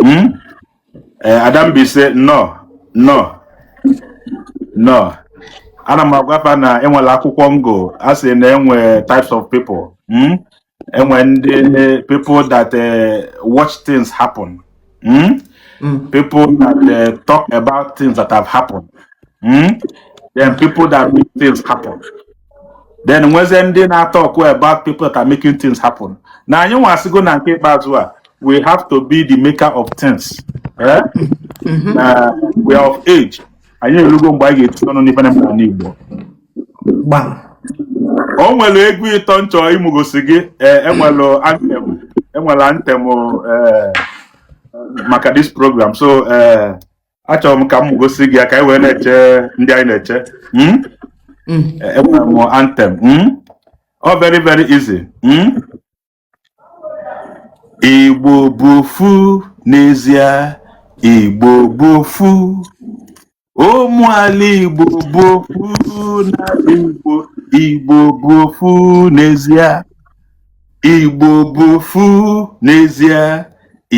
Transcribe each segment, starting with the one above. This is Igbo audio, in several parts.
Hmm? Eh, Adambi said no no no ana m agwa fa na enwere akwụkwọ m gụọ a sị na enwe types of people mm? enwe ndị people that uh, watch things happen mm? Mm. people that uh, talk about things that have happened mm? then people that make things happen then nwezie ndị na-atalk about people that are making things happen na anyị nwasịgo na nke ikpeazụ a we have to be the maker of things eh? mm-hmm. na we are of age anyị erugo mgbe anyị ga-etinye ọnụ n'ife na-eme n'ala Igbo o nwere egwu ịtọ m chọ ịmụgosi gị enwere e anthem enwere anthem e, maka this program so e, achọrọ m ka m gosi gị ya ka anyị wee na-eche ndị anyị na-eche Hmm? Mm. Eh, enwere m anthem Hmm? ọ very very easy Hmm? igbo bụ ofu n'ezie igbo bụ ofu ụmụala igbo bụ ofu na igbo igbo bụ ofu n'ezie Igbo bụ ofu n'ezie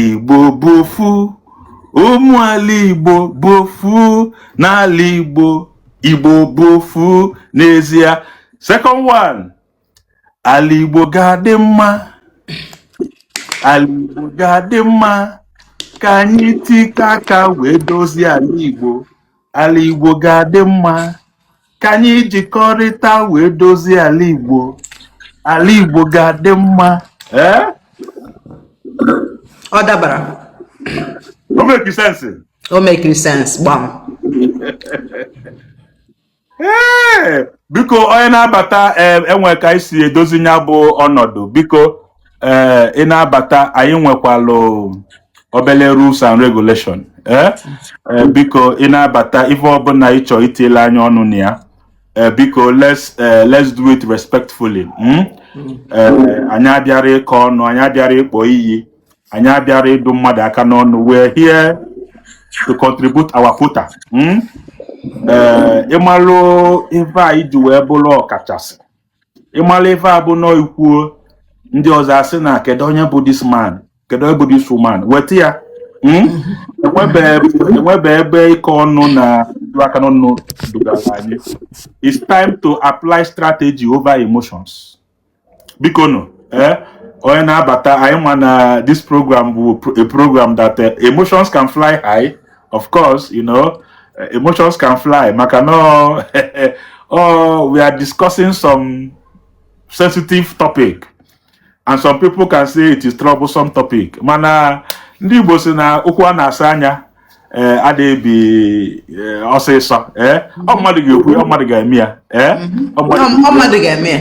Igbo bụ ofu ụmụala Igbo bụ ofu n'ala Igbo Igbo bụ ofu n'ezie second one ala Igbo ga-adị mma ala Igbo ga-adị mma ka anyị tikọ aka wee dozie ala Igbo ala Igbo ga-adị mma ka anyị jikọrịta wee dozie ala Igbo ala Igbo ga-adị mma ee ọ dabara o mekiri sense o mekiri sense gbam ee biko onye na-abata enwe ka e si edozi nya bụ ọnọdụ biko ee eh, ị na-abata anyị nwekwalụ obele rules and regulation ee eh, biko ị na-abata ife ọbụla ị chọọ itielụ anyị ọnụ na ya Eh, biko let's eh, let's do it respectfully hmm? eh, anyị abịarọ ịkọ ọnụ anyị abịarọ ịkpọ iyi anyị abịarọ ịdụ mmadụ aka n'ọnụ we're here to contribute our quota hmm? ịmalụ ife anyị ji wee bụrụ ọkachasị ịmalụ ife a bụ nọọ i kwuo ndị ọzọ asị na kedu onye bụ this man kedu onye bụ this woman weta ya Mm? enwebe enwebe ebe ịkọ ọnụ na ịdụ aka n'ọnụ dugara anyị it's time to apply strategy over emotions biko nụ eh onye na-abata anyị ma na this program bụ pro- a program that eh, emotions can fly high of course you know eh, emotions can fly maka na oh we are discussing some sensitive topic and some people can say it is troublesome topic mana ndị Igbo si na okwu a na-asọ anya ee eh, adịghị ebi eh, ọsịsọ ee ọ mmadụ ga-ekwu ọ mmadụ ga-eme ya ee ọ mmadụ ga-eme ya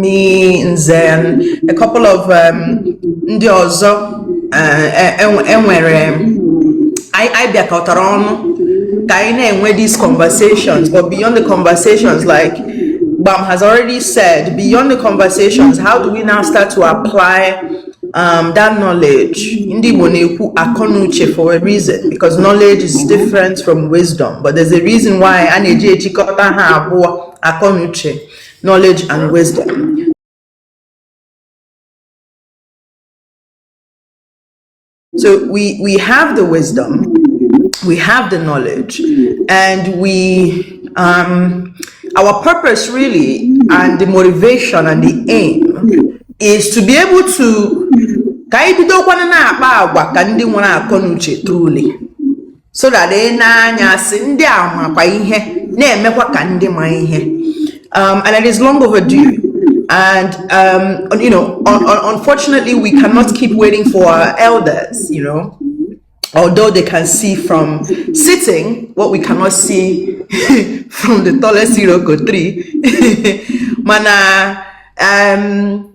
me Nze um, a couple of um, ndị ọzọ e nwere uh, e, e anyị bịakọtara ọnụ ka anyị na-enwe these conversations but beyond the conversations like Gbam has already said beyond the conversations how do we now start to apply um, that knowledge ndị Igbo na-ekwu akọnuche for a reason because knowledge is different from wisdom but there's a reason why a na-eji ejikọta ha abụọ akọnuche knowledge and wisdom so we we have the wisdom we have the knowledge and we um our purpose really and the motivation and the aim is to be able to ka anyị bidokwana na-akpa agwa ka ndị nwere akọ na uche truly so that e nee anya a sị ndị a makwa ihe na-emekwa ka ndị ma ihe um, and it is long overdue and um, you know un un unfortunately we cannot keep waiting for our elders you know although they can see from sitting what we cannot see from the tallest Iroko tree mana um,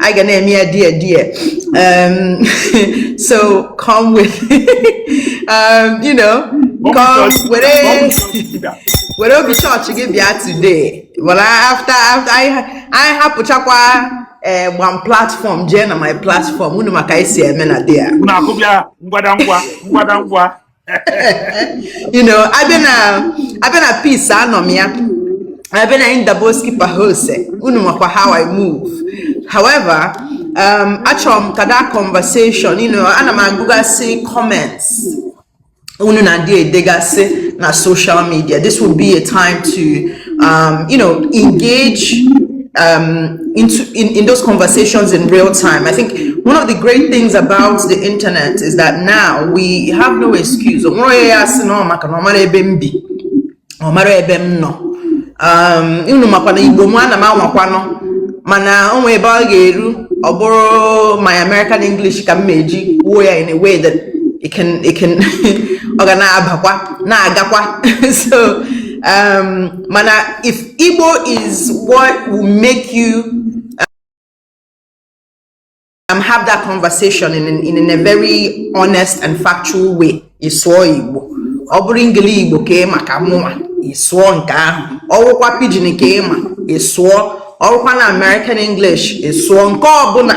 Anyị ga na-eme ya, dear, dear. Um, so come with, um, you know, come with, were obi church gị bịa today. Well, after after anyị hapụchakwa eh, one platform jee na my platform unu ma ka e si eme na there. Unu akụbịa ngwada ngwa ngwada ngwa. you know a bịa na a bịa na peace anọ m ya a bịa na Indaboski Bahose unu makwa how I move however um, achọrọ m ka that conversation you know ana m agụgasị comments unu na-adị edegasị na social media this will be a time to um, you know, engage um, into in, in those conversations in real time. I think one of the great things about the internet is that now we have no excuse. O nwerọ a sị na ọ maka na ọ marọ ebe m bi marọ ebe m nọ. Um, unu makwa na Igbo mụ ana m anwakwanụ mana o nwee ebe ọ ga-eru ọ bụrụ my American English ka m ma-eji kwuo ya in a way that it can it can ọ ga na-abakwa na-agakwa so Um, mana if Igbo is what will make you um, have that conversation in, in, in a very honest and factual way, ị sụọ Igbo. Ọ bụrụ ngili Igbo ka ị ma ka mụnwa, ị sụọ nke ahụ. Ọwụkwa pidgin ka ị ma, ị sụọ. Ọwụkwa na American English, ị sụọ nke ọbụla.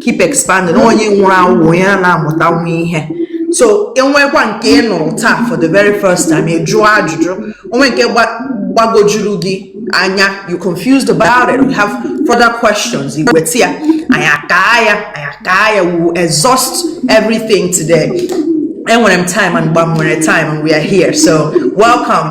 keep expanding onye nwụrụ anwụ onye a na-amụta nwa ihe so enwekwa nke ị nụrụ taa for the very first time ị jụọ ajụjụ o nwee nke gbagojuru gị anya you're confused about it we have further questions i weta ya anyị akaa ya anyị akaa ya we will exhaust everything today enwere m time and mgbe m nwere time and we are here so welcome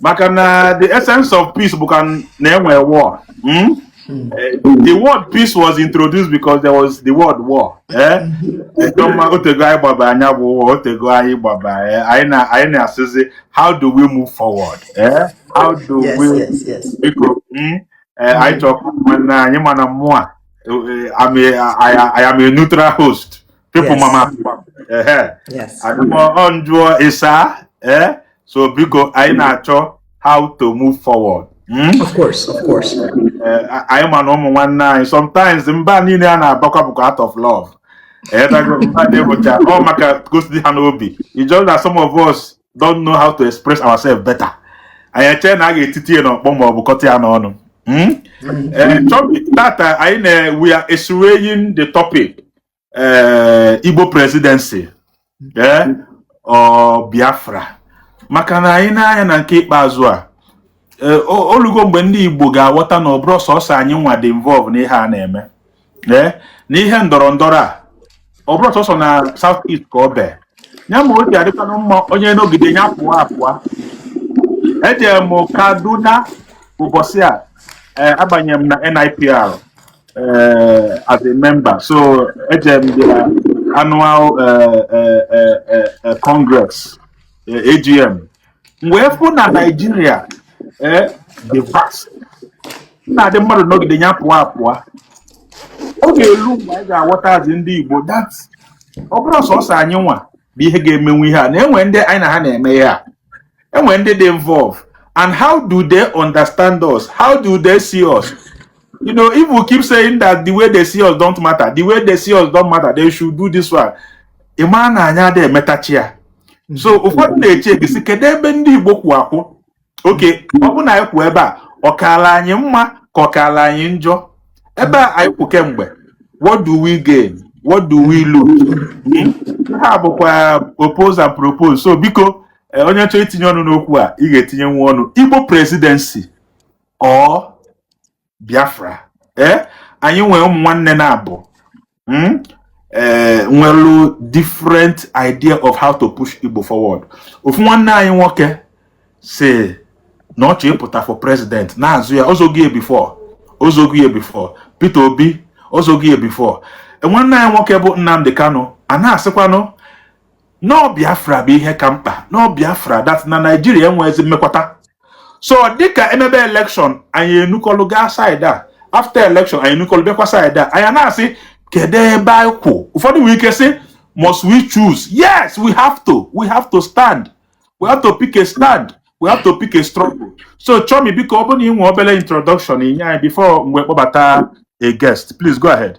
maka na the essence of peace bụ ka na e nwee war hmm? Hmm. Eh, the word peace was introduced because there was the word war eh? hmm. otego anyị gbaba anya bụ ụwa otego anyị gbaba eh? anyị na-asịzi how do we move forward how do we biko anyị chọkwa nwanne anyị mana mụwa I am a neutral host People yes. mama ehe yes. ọ m jụọ ị saa eh? so biko anyị na-achọ how to move forward Hmm? Of course, of course. Eh, anyị ma na ụmụ nwanne anyị sometimes mba niile a na-abakwa bụkwa out of love eh, bụcha ọ maka ka o si dị ha n'obi it's just that some of us don't know how to express ourselves better anyị eche na a ga-etiti ya n'ọkpọ ma ọ bụ kọta ya n'ọnụ hmm? eh, tata anyị na we are x-raying the topic ee igbo presidency ee ọ biafra maka na anyị na-anya na nke ikpeazụ a ee, o- olugo mgbe ndị igbo ga-aghọta na ọ bụrọ sọsọ anyị nwa dị involve n'ihe a na-eme ee na ihe ndọrọ ndọrọ a ọ bụrọ sọsọ na south east ka ọ bee ya mere o ji adịkwanụ mma onye nọgide ya pụọ apụọ eje m kaduna ụbọchị a ee, abanye m na nipr uh, as a member. So eje m the annual uh, uh, uh, uh, congress uh, AGM. M wee fụ na Nigeria eh, dị vast na-adị mmadụ nọgide ya pụọ apụọ ọ ga-elu mgbe anyị ga-aghọtazi ndị Igbo that ọ bụrọ sọsọ anyị nwa bụ ihe ga-emenwu ihe a na e nwe ndị anyị na ha na-eme ihe a enwere ndị dị involve and how do they understand us how do they see us you know if we keep saying that the way they see us don't matter the way they see us don't matter they should do this one ị mara na anyị adịghị emetacha ya so ụfọdụ na-eche gị sị kedu ebe ndị igbo kwụ akwụ okay ọ bụ na anyị kwụ ebe a ọ kaala anyị mma ka ọ kaala anyị njọ ebe a anyị kwụ kemgbe what do we gain what do we lose ha bụkwa oppose and propose so biko eh, onye chọọ itinye ọnụ n'okwu a ị ga-etinyenwu ọnụ igbo presidency or biafra ee eh, anyị nwere ụmụ nwanne naabọ hmm? eh, nwelu different idea of how to push igbo forward ofu nwanne anyị nwoke sị na ọ chọọ ịpụta for president na-azọ ya ọ zọgo ya before ọ zọgo ya before peter obi ọ zọgo ya before nwanne anyị nwoke bụ nnamdi kanu a na-asịkwanụ na ọ biafra bụ ihe ka mkpa na ọ biafra that na naijiria enweghịzi mmekwata so dịka e mebe election anyị enukọlụ gaa side a after election anyị enukọlụ bịakwa side a anyị na-asị kedu ebe anyị kwụ ụfọdụ nwere ike sị must we choose yes we have to we have to stand we have to pick a stand we have to pick a struggle so chomi biko ọ bụrụ na ị nwee obere introduction inye anyị before mgbe kpọbata a guest please go ahead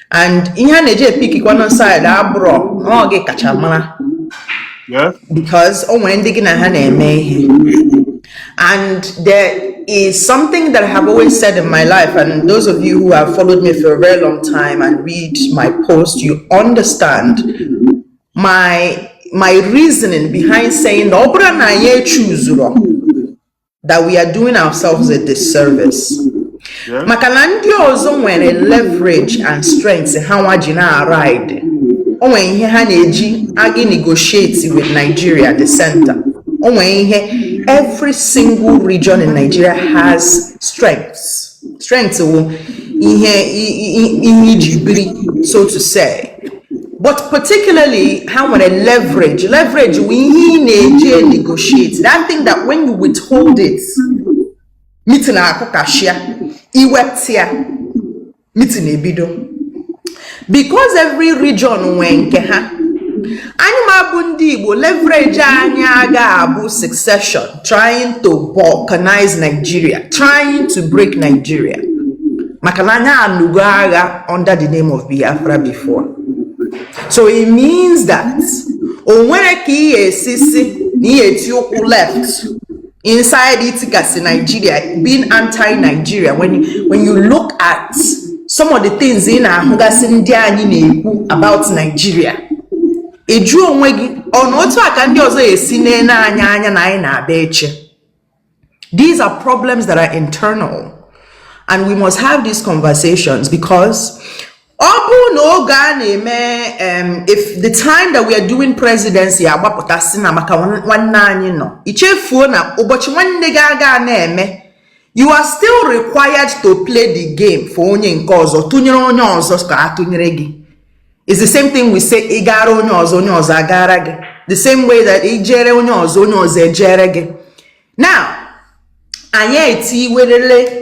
and ihe a na-eji epiki one side abụrọ na ọ gị kacha mara Yeah. because o nwere ndị gị na ha na-eme ihe and there is something that I have always said in my life and those of you who have followed me for a very long time and read my post you understand my my reasoning behind saying na ọ bụrụ na anyị echuzurọ that we are doing ourselves a disservice maka na ndị ọzọ nwere leverage and strength ha nwa ji na-aride o nwere ihe ha na-eji aga negotiate with Nigeria the center o nwere ihe every single region in Nigeria has strengths strength wụ ihe ihe i ji biri so to say but particularly ha nwere leverage leverage wụ ihe ị na-eji negotiate that thing that when you withhold it meeting akụkasịa i wepụta ya meeting ebido because every region nwee nke ha anyị nwa bụ ndị Igbo leverage anyị aga abụ secession trying to balkanize Nigeria trying to break Nigeria maka na anyị anụgo agha under the name of Biafra before so it means that o nwere ka ị ga-esi sị na ị ga-eti ụkwụ left inside itikasị Nigeria, being anti-Nigeria, when you, when you look at some of the things ị na-ahụgasị ndị anyị na-ekwu about Nigeria, ị jụọ onwe gị na otu a ka ndị ọzọ esi na-ele anyị anya na anyị na-abịa eche. These are problems that are internal and we must have these conversations because ọ bụrụ na oge a na-eme if the time that we are doing presidency agbapụta sị na maka nwanne anyị nọ i chefuo na ụbọchị nwanne gị aga na-eme you are still required to play the game for onye nke ọzọ tụnyere onye ọzọ ka a tụnyere gị it's the same thing we say ị gara onye ọzọ onye ọzọ agara gị the same way that ị jere onye ọzọ onye ọzọ ejere gị now anyị etiwerele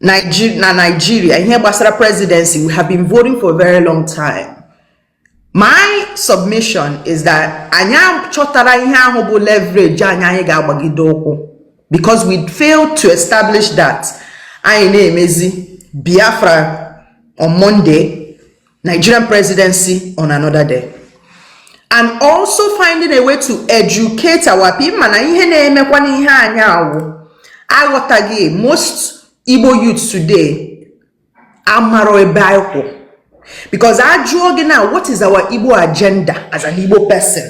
na Nigeria ihe gbasara presidency we have been voting for a very long time my submission is that anyị chọtara ihe ahụ bụ leverage anyị anyị ga-agbagide ụkwụ because we failed to establish that anyị na-emezi Biafra on Monday Nigerian presidency on another day and also finding a way to educate our people mana ihe na-emekwa n'ihe anyị awụ aghọtaghị most Igbo youth today amaro ebe anyị kwụ because a jụọ gị na what is our Igbo agenda as an Igbo person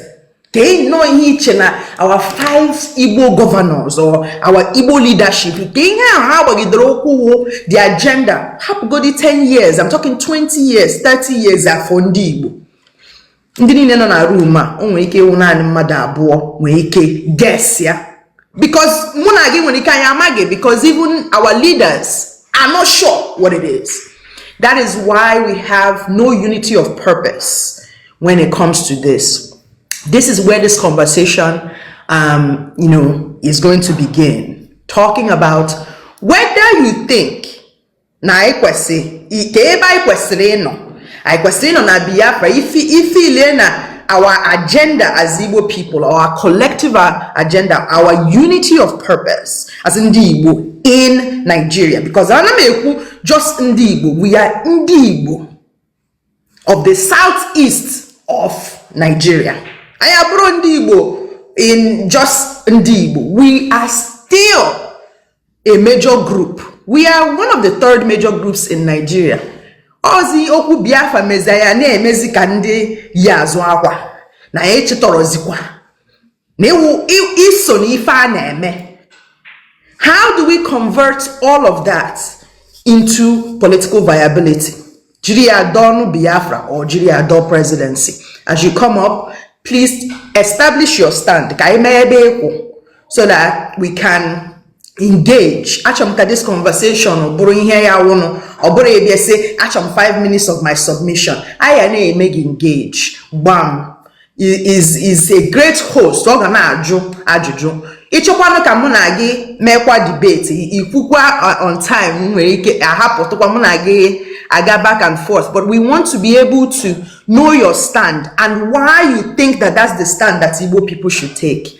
kee nnọọ ihe i che na our five igbo governors or our igbo leadership kee ihe ahụ ha gbagidere ụkwụ wụ the agenda hapụgodi 10 years I'm talking 20 years 30 years for ndị igbo ndị niile nọ na room a o nwere ike ịwụ naanị mmadụ abụọ nwere ike guess ya because mụ na gị nwere ike anyị amaghị because even our leaders are not sure what it is that is why we have no unity of purpose when it comes to this. This is where this conversation, um, you know, is going to begin. Talking about whether you think na anyị kwesịrị ka ebe anyị kwesịrị ịnọ anyị kwesịrị ịnọ na Biafra ife ile na our agenda as Igbo people our collective agenda our unity of purpose as ndị Igbo in Nigeria because ana m ekwu just ndị Igbo we are ndị Igbo of the south east of Nigeria anyị abụrọ ndị Igbo in just ndị Igbo we are still a major group we are one of the third major groups in Nigeria ozi okwu Biafra mezia ya na-emezi ka ndị yi azụ akwa na ya echetarọzikwa na i so na ife a na-eme how do we convert all of that into political viability jiri ya dọọ biafra or jiri ya dọọ presidency as you come up please establish your stand ka anyị mara ebe ị kwụ so that we can engage achọrọ m ka this conversation bụrụ ihe ya wụnụ ọ bụrụ ị bịa sị achọrọ m 5 minutes of my submission a ya na-eme gị engage gbam is is a great host ọ ga na-ajụ ajụjụ ị chọkwanụ ka mụ na gị meekwa debate i kwukwa uh, on time nwere ike a hapụtụkwa mụ na gị aga back and forth but we want to be able to know your stand and why you think that that's the stand that Igbo people should take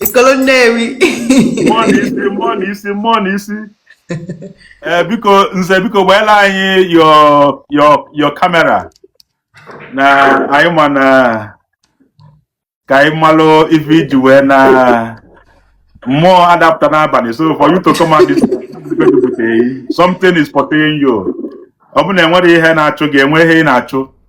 Ikolo Nnewi. Mmụọ na isi, mmụọ na isi, mmụọ na isi. Eh, biko nze biko gbaela anyị your your your camera na anyị ma na ka anyị malụ ife i ji wee na mmụọ ada apụta n'abalị so for you to come out this something is pursuing you ọ bụ na enwere ihe na-achụ gị enwe ihe ị na-achụ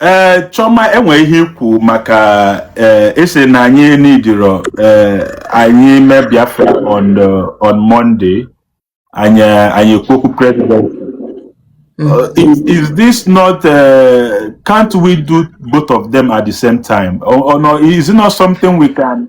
ee eh, Chioma enwe ihe i kwu maka ị sị eh, e na anyị needirọ eh, anyị mee Biafra on on Monday anyị anyị kwuo okwu president hmm. uh, is, is this not uh, can't we do both of them at the same time or, or no, is it not something we can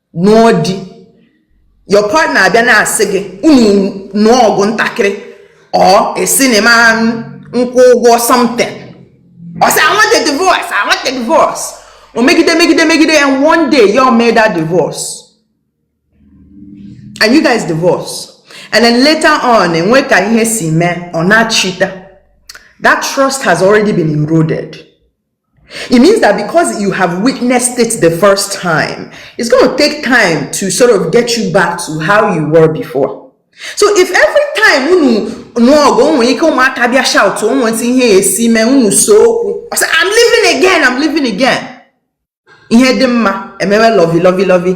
nụọ di your partner abịa na-asị gị unu nụọ ọgụ ntakịrị or esi na ịma nkwụ ụgwọ something ọ sị I want a divorce I want a divorce o megide megide megide and one day ya mee that divorce and you guys divorce and then later on e nwee ka ihe si mee ọ na-echeta that trust has already been eroded It means that because you have witnessed it the first time, it's going to take time to sort of get you back to how you were before. So if every time unu nụọ ọgụ o nwere ike ụmụaka bịa shout o nwetụ ihe e si mee unu see okwu ọ sị I'm leaving again I'm leaving again ihe dị mma e mewe lovey lovey lovey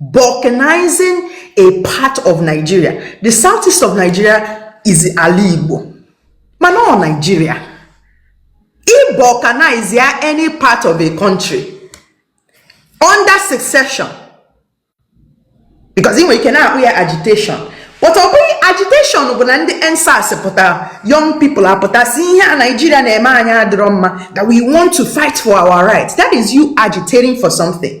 balkanizing a part of nigeria the south east of nigeria is ala igbo mana ọ nigeria i balkanize ya any part of a country under secession because ị nwere ike na-akpọ ya agitation but ọ bụghị agitation bụ na ndị EndSARS pụtara young people apụta sị ihe a nigeria na-eme anyị adịrọ mma that we want to fight for our rights that is you agitating for something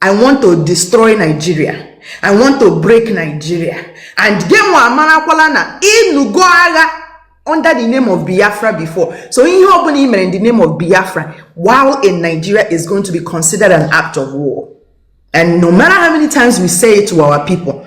i want to destroy nigeria i want to break nigeria and gemo amarakwala na ịlụgo agha under the name of biafra before so ihe ọbụla i mere in the name of biafra while in nigeria is going to be considered an act of war and no matter how many times we say it to our people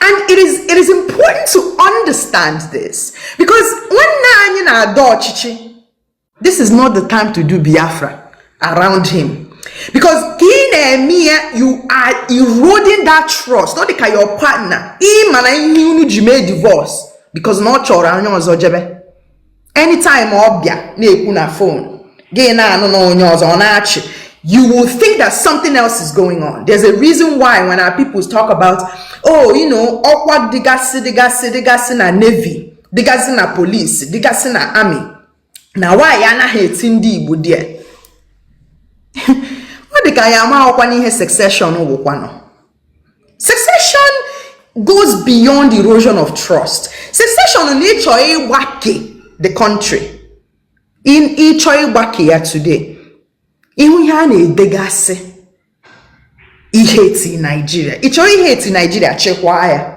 And it is, it is important to understand this because nwanne anyị na-adọ ọchịchị this is not the time to do Biafra around him because ka ị na-eme ya you are eroding that trust ọ dị ka your partner ị ma na ihe unu ji mee divorce because na ọ chọrọ onye ọzọ jebe anytime ọ bịa na-ekwu na fon gị na-anụ na onye ọzọ na-achị you will think that something else is going on. There's a reason why when our people talk about, oh, you know, ọkwa dịgasị, dịgasị, dịgasị na navy, dịgasị na police, dịgasị na army. Na why anaha eti ndị Igbo there? Ọ dị ka ya ama ọkwa n'ihe secession wụkwanụ. secession goes beyond erosion of trust secession na ịchọ ịgbake the country in ịchọ ịgbake ya today ị hụ ihe a na-edegasị i hate Nigeria ị chọrọ ihate Nigeria chịkwaa ya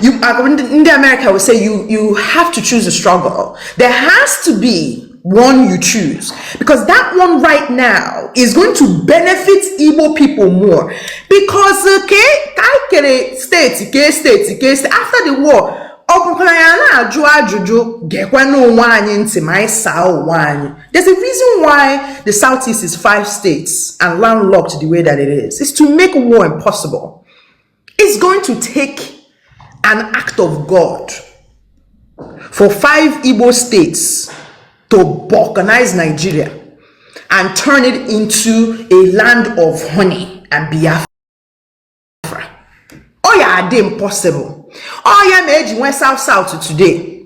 You, uh, in the America will say you, you have to choose a struggle. There has to be one you choose because that one right now is going to benefit Igbo people more because uh, K Kaikere state K state K state after the war ọ bụkwara ya na-ajụ ajụjụ gekwe n'onwe anyị ntị ma anyị saa onwe anyị there's a reason why the southeast is five states and landlocked the way that it is it's to make war impossible it's going to take an act of god for five igbo states to balkanize nigeria and turn it into a land of honey and biafra ọ ya adị impossible ọ ya ma eji nwee south south today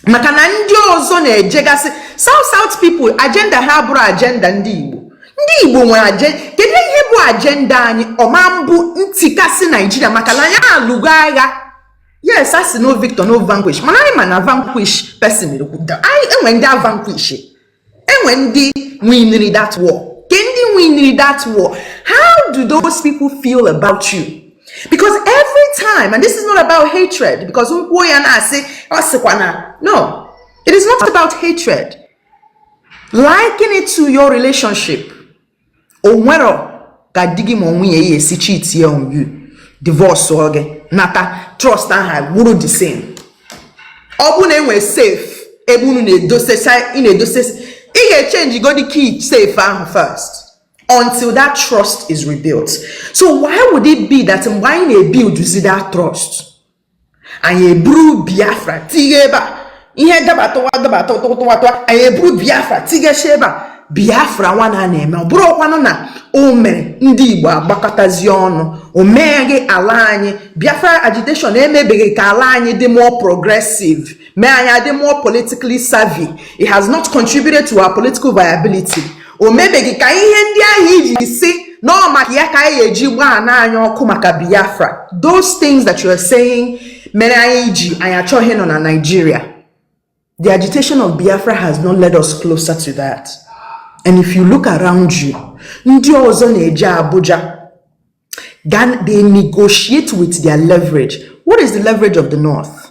maka na ndị ọzọ na-ejegasị south south people agenda ha abụrọ agenda ndị igbo ndị igbo nwere aje kedu ihe bụ agenda anyị ọ ma abụ ntikasị Nigeria maka na anyị alụgo agha yes a sị no victor no vanquish mana anyị ma na vanquish person anyị e nwe ndị a vanquish e nwe ndị winiri that war kee ndị winiri that war how do those people feel about you because every time and this is not about hatred because m kwuo ya na-asị a sịkwa na no it is not about hatred liken it to your relationship o nwere ka di gị ma ọ nwunye gị esi chitie on you divorce ọ gị na that trust ahụ ga-abụrụ the same ọ bụrụ na e nwere safe ebe unu na-edosesa ị na-edosesa ị ga-echenjigodi key safe ahụ first until that trust is rebuilt so why would it be that mgbe anyị na-ebuildzi that trust anyị eburu biafra tighe ebe a ihe gabatụwa gabatụ tụwatụwa anyị eburu biafra tighechi ebe a biafra nwanụ a na-eme ọ bụrọkwanụ na o mere ndị igbo agbakọtazie ọnụ o meghị ala anyị biafra agitation emebeghị ka ala anyị dị more progressive mee anyị adị more politically savvy it has not contributed to our political viability o mebeghị ka ihe ndị ahụ i ji sị na ọ maka ya ka anyị ga-eji gbaa na anyị ọkụ maka biafra those things that you are saying mere anyị ji anyị achọghị ịnọ na Nigeria the agitation of biafra has not led us closer to that and if you look around you ndị ọzọ na-eje abuja they negotiate with their leverage what is the leverage of the north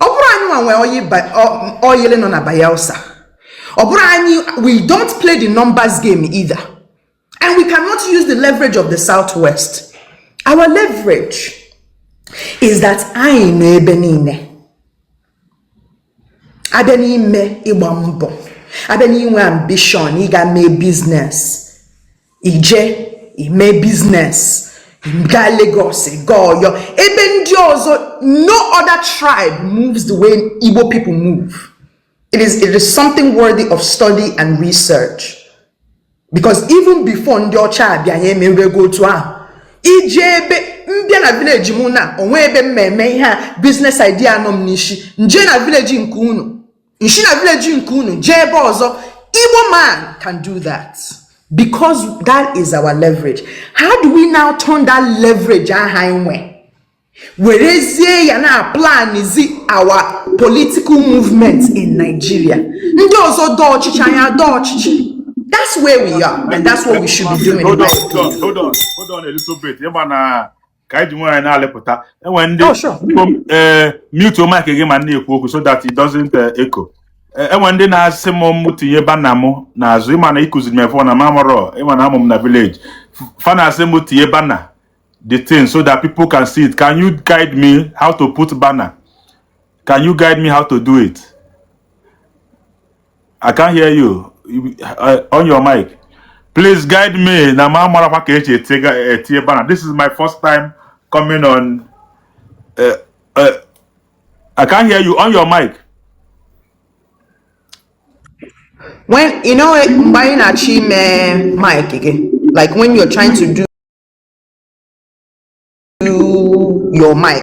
ọ bụrọ anyị nwa nwe oil nọ na Bayelsa ọ bụrọ anyị we don't play the numbers game either and we cannot use the leverage of the southwest our leverage is that anyị nọ ebe niile a bịa n'ime ịgba mbọ a bịa n'inwe ambition ịga mee business ije ime business gaa Lagos gaa Ọyọ ebe ndị ọzọ no other tribe moves the way Igbo people move it is it is something worthy of study and research because even before ndị ọcha abịa anyị emerego otu ahụ ije ebe m bịa na village m na onwe ebe m ma-eme ihe a business idea nọ m n'ishi m jee na village nke unu m shi na village nke unu jee ebe ọzọ igbo man can do that because that is our leverage how do we now turn that leverage ahụ anyị nwe werezie ya na-aplanzi our political movement in nigeria ndị ọzọ dọọ ọchịchị anyị dọọ ọchịchị that's where we are and that's what we should be doing hold on hold on hold on a little bit ị ma na ka anyị ji nwayọ na-alịpụta enwe ndị Oh, sure. ee eh, mute mic gị ma na-ekwu okwu so that it doesn't eh, echo Eh, enwe ndị na-asị m mụ tinye banner m n'azụ ị ma na ị kuziri m ife na m amarọ ị ma na amụ m na village fa na-asị m tinye banner the thing so that people can see it can you guide me how to put banner can you guide me how to do it I can hear you. Uh, on your mic. Please guide me. Na ma mara kwa ka eche etie bana. This is my first time coming on. Uh, uh, I can hear you on your mic. When you know mgbe anyị na-achọ ime mic again, like when you're trying to do your mic.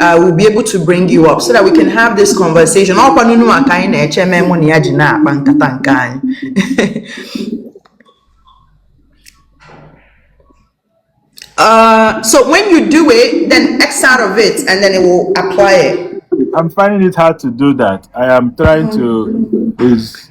uh, will be able to bring you up so that we can have this conversation ọkwa n'unu maka anyị na-eche mee mụ na ya ji na-akpa nkata nke anyị Uh, so when you do it, then X out of it, and then it will apply it. I'm finding it hard to do that. I am trying to is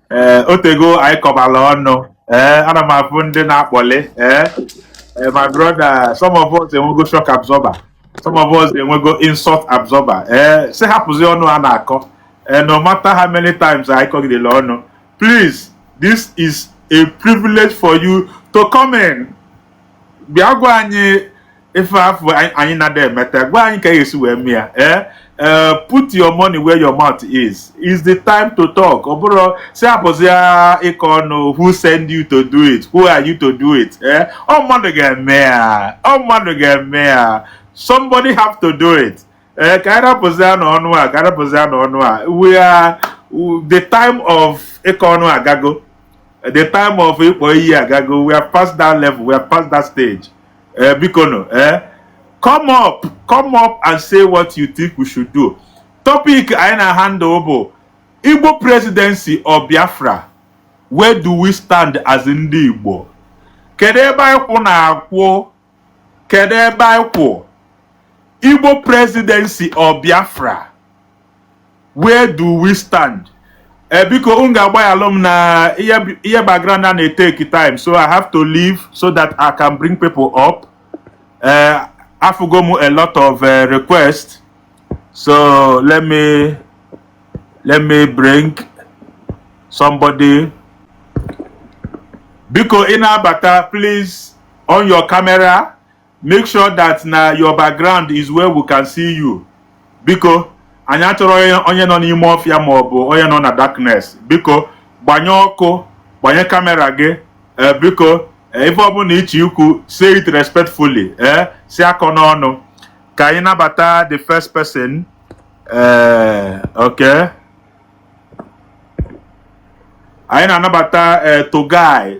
ee eh, otego anyị kọbala ọnụ ee eh, ana m afụ ndị na-akpọli ee eh, my brother some of us enwego shock absorber some of us enwego insult absorber ee si hapụzi ọnụ a na-akọ ee no matter how many times anyị kọgidela ọnụ please this is a privilege for you to come in bịa gwa anyị ife afụ anyị na-ada emeta gwa anyị ka esi wee mee ya ee eh? eh, put your money where your mouth is is the time to talk ọ bụrụ si apụzi ịkọ ọnụ who send you to do it who are you to do it ee eh? ọ mmadụ ga-eme ya ọ mmadụ ga-eme ya somebody have to do it ee ka anyị rapụzi anụ ọnụ a ka anyị rapụzi anụ ọnụ a we are the time of ịkọ ọnụ agago the time of ịkpọ iyi agago we are past that level we are past that stage ee eh, biko nụ ee eh, come up come up and say what you think we should do topic anyị na-handle bụ igbo presidency or biafra where do we stand as ndị igbo kedu ebe anyị kwụ na-akwụ kedu ebe anyị kwụ igbo presidency or biafra where do we stand eh, biko unu ga-agbaghalụ m na ihe background a na-eteki time so i have to leave so that i can bring people up eh, afụgo m a lot of eh, requests so let me let me bring somebody biko ị na-abata please on your camera make sure that na your background is where we can see you biko anyị achọrọ onye nọ n'ime ọfịa ma ọ bụ onye nọ na darkness biko gbanye ọkụ gbanye kamera gị eh, biko eh, ife ọbụla ị chọ ikwu say it respectfully ee eh, si akọ n'ọnụ ka anyị nabata the first person ee okay anyị na-anabata bọgzi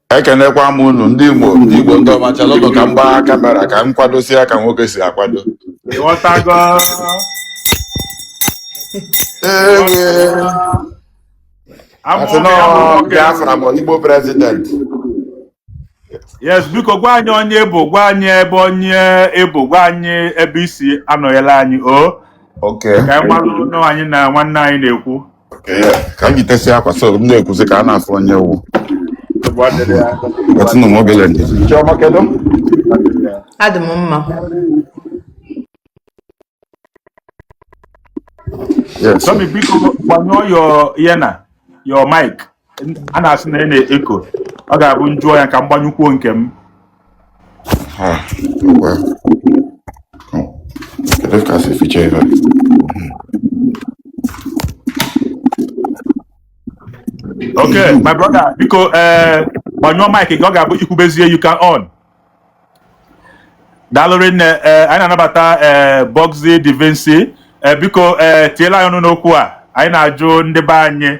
ekenekwa m unu ndị igbo ndị igbo ndị ọma chalụnụ ka m gbaa kamera ka m kwadosie ya ka nwoke si akwado ị ghọtago ewe amụ asị nwoke amụ nọ nwoke biafra ma igbo prezident yes biko gwa anyị onye ị bụ gwa anyị ebe onye ị bụ gwa anyị ebe i si anọnyela anyị o okay ka anyị malụ na anyị na nwanne anyị na-ekwu ka m yitesịa akwa so m na-ekwuzi ka a na-afụ onye wụ nwetụnụ m obele ndidi adị m mma Yes. Tommy, biko gbanyụọ your ihe na your mic. a na-asị na ị na-echo ọ ga-abụ m jụọ ya ka m gbanyụkwuo nke m Ha, ngwa. Kedu ka si ficha ife? okay my brother biko ee gbanyụọ mic gị ọ ga-abụ i kwubezie you can on daalụ rinne ee anyị na-anabata ee Bọgzi Divinsi ee biko ee tinyela anyị ọnụ n'okwu a anyị na-ajụ ndị be anyị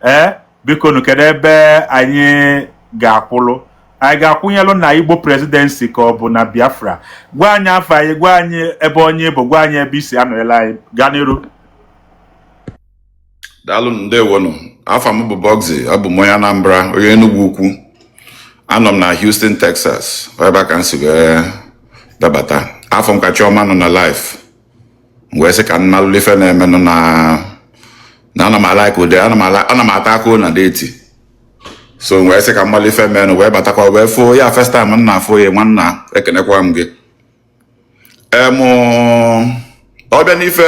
ee bikonu kedu ebe anyị ga-akwụlụ anyị ga-akwụnyelụ na Igbo presidency ka ọ bụ na Biafra gwa anyị afa gị gwa anyị ebe onye bụ gwa anyị ebe i si anọnyela anyị gaa n'iru daalụ ndewonụ afa m bụ bọgzi abụ m onye anambra onye enugwu ukwu anọ m na houston texas ọ ebe a ka m si wee dabata afụ m ka chiọma nọ na live m wee sị ka m malụ ife na-emenụ na na ana m a-like ụdị ana m ala ana m ata aka na deti so m wee sị ka m malụ ife menụ wee batakwa wee fụ ya first time m na-afụ ya nwanna ekenekwa m gị em ọ bịa n'ife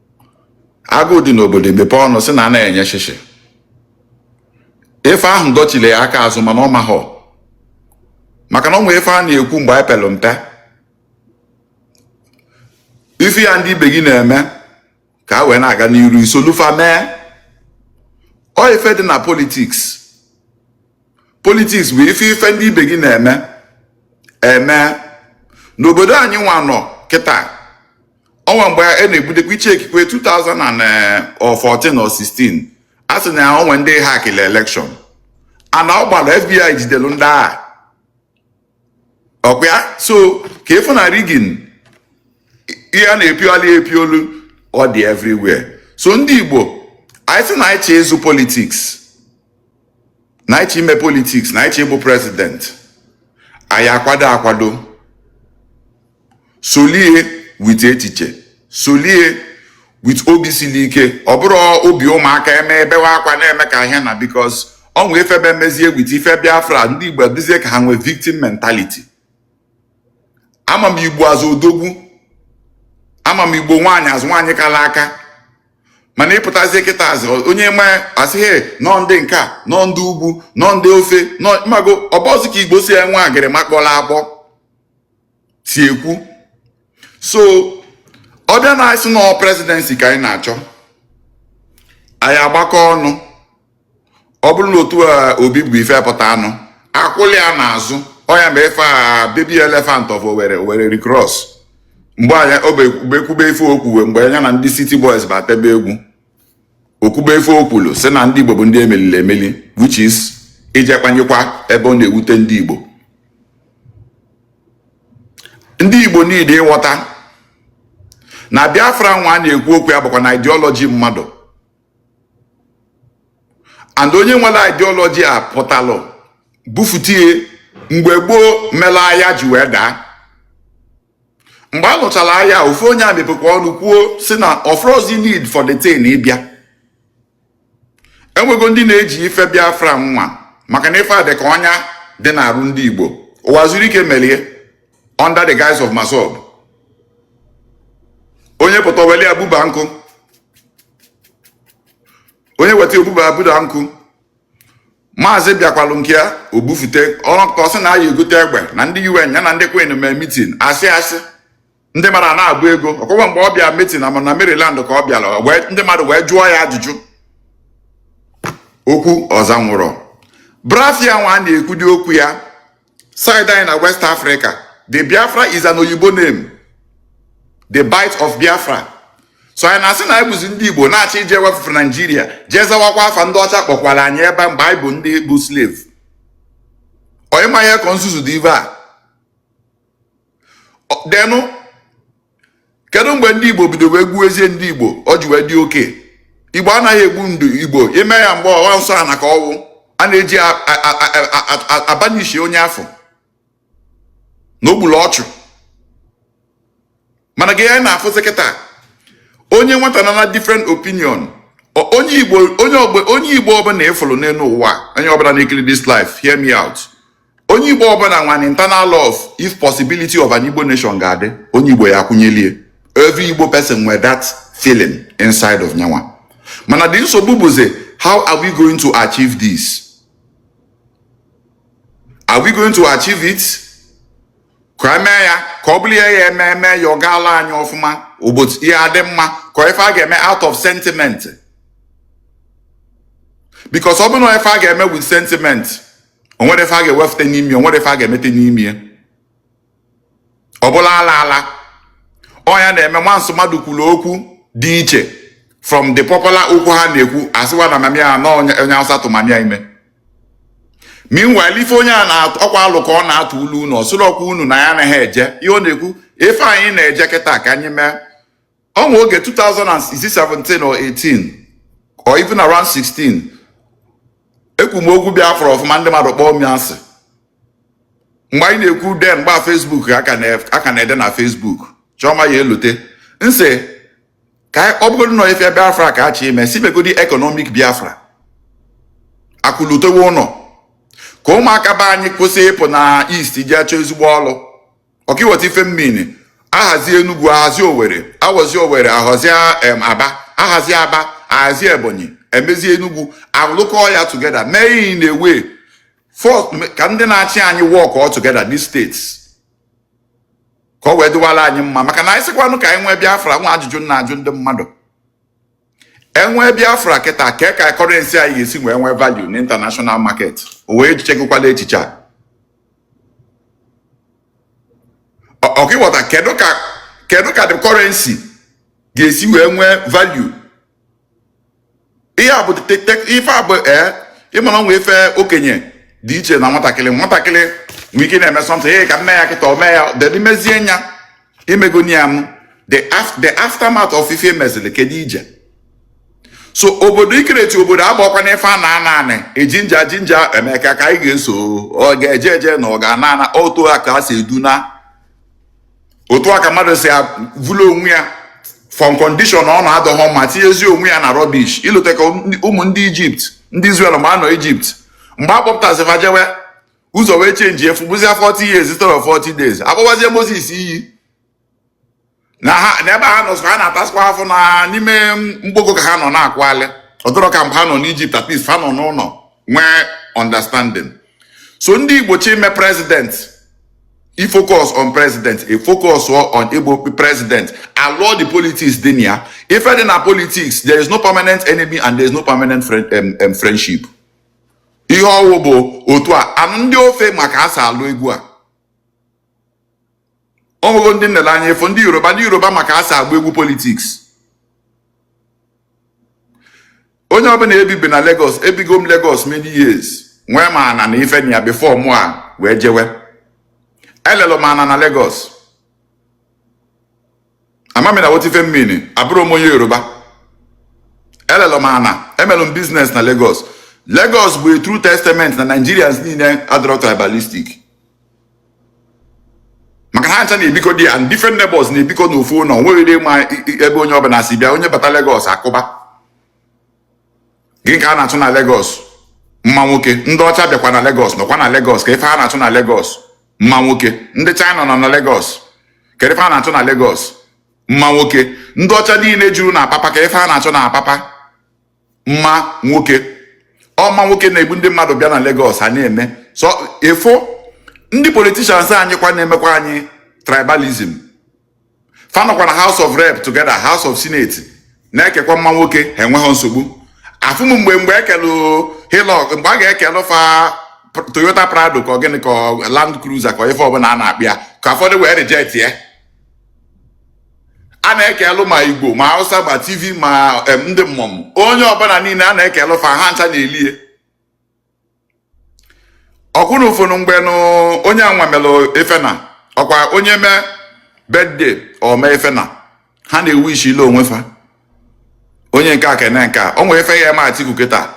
agụụ dị n'obodo i mepe ọnụ sị na anahọ enye shịshị ife ahụ dọchili ya aka azụ mana ọ mahọ maka na ọ nwee ife a na-ekwu mgbe anyị pelụ mpe ife ya ndị ibe gị na-eme ka a wee na-aga n'iru i solu fa mee ọ ife dị na politiks politiks bụ ife ife ndị ibe gị na-eme eme n'obodo anyị nwa nọ kịta ọ nwee mgbe a na-egbudekwa iche ekikwe 2014 or 16 a sị na o nwe ndị hakịlị elekshọn ana ọ gbara FBI jidelu ndị a ọkwa ya so ka ịfụ na rigin ihe a na-epiolu epiolu ọ dị everywhere so ndị Igbo anyị sị na anyị chọ ịzọ politiks na anyị chọ ime politiks na anyị chọ ịbụ prezident anyị akwado akwado solie wit echiche solie wit obi sili ike ọ bụrọ obi ụmụaka eme ebewe akwa na-eme ka a sị na bikos ọ nwee ife be mezie wit ife biafra ndị igbo dịzie ka ha nwee victim mentality ama m igbo as odogwu ama m igbo nwaanyị as nwaanyị kala aka mana ịpụtazie kịta as onye ma a sị ghị na ọ ndị nke a na ọ ndị ugwu na ọ ndị ofe mmanụ ọ bụzi ka igbo si enwe agịrị makpọla akpọ si ekwu so ọ bịa na anyị sị na ọ presidency ka anyị na-achọ anyị agbakọ ọnụ ọ bụrụ na otu obi bụ ife pụta anyị akwụlụ ya n'azụ ọ ya mee ife a baby elephant of Owerri Owerri recross mgbe anyị obekwube ife o kwuwe mgbe ya na ndị city boys batebe egwu o kwube ife o kwulu sị na ndị Igbo bụ ndị e melili emeli which is ije kpanyekwa ebe ọ na-ewute ndị Igbo ndị Igbo niile ịghọta na Biafra nwa a na-ekwu okwu ya bụkwa na ideology mmadụ and onye nwelu ideology a pụtalụ bufute ya mgbe gboo melu aya ji wee daa mgbe a nụchalụ aya ofu onye emepekwa ọnụ kwuo sị na ọ fụrọzi need for the thing ịbịa enwego ndị na-eji ife biafra nwa maka na ife a dị ka ọnya dị n'arụ ndị igbo Uwazuruike melie under the guise of MASSOB onye pụta weli abuba nkụ onye weta obuba abuda nkụ maazị bịakwalụ nke ya o bufute ọrọnka ọ sị na ya egote egbe na ndị UN ya na ndị kwin mee mitin asị asị ndị mmadụ na-agba ego ọkwa mgbe ọ bịa mitin ama na Maryland ka ọ bịalụ ndị mmadụ wee jụọ ya ajụjụ okwu ọ zanwurọ Biafra nwa a na-ekwudi okwu ya side anyị na west africa the biafra is an oyibo name the bight of biafra so anyị na-asị na anyị bụzi ndị igbo na-achọ ije wefufe naijiria jee zawakwa afa ndị ọcha kpọkwara anyị ebe mgbe anyị bụ ndị bụ slave onye ma ihe ka nzuzu dị ive a then kedu mgbe ndị igbo bido wee gbuwezie ndị igbo o ji wee dị okay igbo anaghị egbu ndị igbo ibe ya mgbe ọ wụ nsọ ana ka ọ wụ a na-eji abanishi onye a fụ na o gbulu ọchụ mana ị ga na-afụzi kịta onye nweta na na different opinion onye igbo ọbụla ị fụrụ n'elu ụwa onye ọbụla na-ekiri this live hear me out onye igbo ọbụla nwe an internal love if possibility of an igbo nation ga-adị onye igbo ya akwụnyelie every igbo person nwere that feeling inside of nya nwa mana the nsogbu bụzi how are we going to achieve this are we going to achieve it ka e mee ya ka ọ bụrụ ya ya eme eme ya ọ gaala anyị ọfụma ụbọchị ihe adị mma ka ife a ga-eme out of sentiment because ọ bụrụ na ife a ga-eme with sentiment o nwere ife a ga-ewefute n'ime ya o nwere ife a ga-emete n'ime ya ọ bụlụ ala ala ọ nya na-eme once mmadụ kwuru okwu dị iche from the popular okwu ha na-ekwu a sịwa na mama ya na onye awụsa tụ mama ya ime meanwhile ife onye a na-atụ ọkwa alo ka ọ na-atụlụ unu ọ sịrọkwa unu na ya anaghị eje ihe ọ na-ekwu ife anyị na-eje kịta ka anyị mee o nwe oge 2017 or 18 or even around 16 ekwu m okwu Biafra ọfụma ndị mmadụ kpọọ m asị mgbe anyị na-ekwu then mgbe a Facebook a ka na-ede na Facebook chọma ya elute m sị ka ọ bụgodị na ife Biafra ka a chọ ime si megodi economic Biafra akụ lutewe ụlọ ka ụmụaka be anyị kwụsị ịpụ na East jee chọọ ezigbo ọrụ ọkwa ị wọta ife m mean ahazi Enugu ahazi Owere ahazi Owere ahazi Aba ahazi Aba ahazi Ebonyi emezi Enugu alụkọ ya together mee in a way ka ndị na-achị anyị work together these states ka o wee dịwara anyị mma maka na anyị sịkwanụ ka anyị nwee Biafra nwa ajụjụ m na-ajụ ndị mmadụ e nwee biafra kịta ka ka currency anyị ga-esi wee nwee value na international market o wee chegokwala echiche a ọkwa ị wọta kedu ka kedu ka the currency ga-esi wee nwee value ihe a bụ ife a bụ ee ị ma na o nwe ife okenye dị iche na nwatakịrị nwatakịrị nwe ike na-eme something ka m mee ya kịta o mee ya dedi mezie nya imegoni ya m the aftermath of ife mezili kedu ije so obodo ikereti obodo abakwa n'ife a na ana anị ejinja jinja emeka ka anyị ga-eso ọ ga-eje eje na ọ ga-ana ana otu a ka a si eduna otu a ka mmadụ si vụlụ onwe ya from condition ọ nọ adọghọ mma tinyezi onwe ya na rubbish i lota ka ụmụ ndị Egypt ndị Israel mgbe ha nọ Egypt mgbe a kpọpụtasị fa jewe ụzọ wee change ife ọ bụzi 40 years instead of 40 days akpọwazie Moses iyi na ha na ebe ha nọ so ha na-atasịkwa afụfụ n'ime mgbogo ka ha nọ na-akwali ọ dọrọ ka mgbe ha nọ n'Egypt at least ha nọ n'ụlọ nwee understanding so ndị Igbo chọ ime president e focus on president e focus on Igbo president alụọ the politics dị na ya ife dị na politics there is no permanent enemy and there is no permanent friend, um, um, friendship ihe ọ wụ bụ otu a and ndị ofe ma ka a si alụ egwu a ọ bụghị ndị nlele anya ị fụ ndị Yoruba ndị Yoruba ma ka a si agba egwu politics onye ọbụla ebibi na Lagos ebigo m Lagos many years nwee ma ana na ife ya before mụ a wee jewe elelu m ana na Lagos amami na wot ife mana abụrọ m onye Yoruba elelu m ana emelu m business na Lagos Lagos bụ a true testament na Nigerians niile adọrọ tribalistic maka na ha ncha na-ebikọ di ya different neighbors na-ebikọ n'ofu ụlọ nweghị ebe onye ọbụla si bịa onye bata Lagos akụba gị ka a na-achụ na Lagos mma nwoke ndị ọcha bịakwa na Lagos nọkwa na Lagos kee ife a na-achụ na Lagos mma nwoke ndị China nọ na Lagos kee ife a na-achụ na Lagos mma nwoke ndị ọcha niile juru na Apapa kee ife a na-achụ na Apapa mma nwoke ọ mma nwoke na-ebu ndị mmadụ bịa na Lagos a na-eme so ị fụ ndị politicians anyị kwa na-emekwa anyị tribalism fa nọkwa na house of rep together house of senate na-ekekwa mma nwoke ha enweghị nsogbu afụ m mgbe mgbe ekelu Hilux mgbe a ga-ekelu fa pr- Toyota Prado ka ọ gịnị ka ọ Land Cruiser ka ọ ife ọbụla a na-akpọ ya ka ụfọdụ wee reject ya a na-ekelu ma Igbo ma Hausa ma Tiv ma em, ndị mmọnwụ onye ọbụla niile a na-ekelu fa ha ncha na-elie ọkwụna ụfọdụ mgbe na onye anwa melụ ife na ọ kwa onye mee birthday o mee ife na ha na-ewish-ili onwe fa onye nke a kene nke a o nwere ife ya-eme Atiku kịta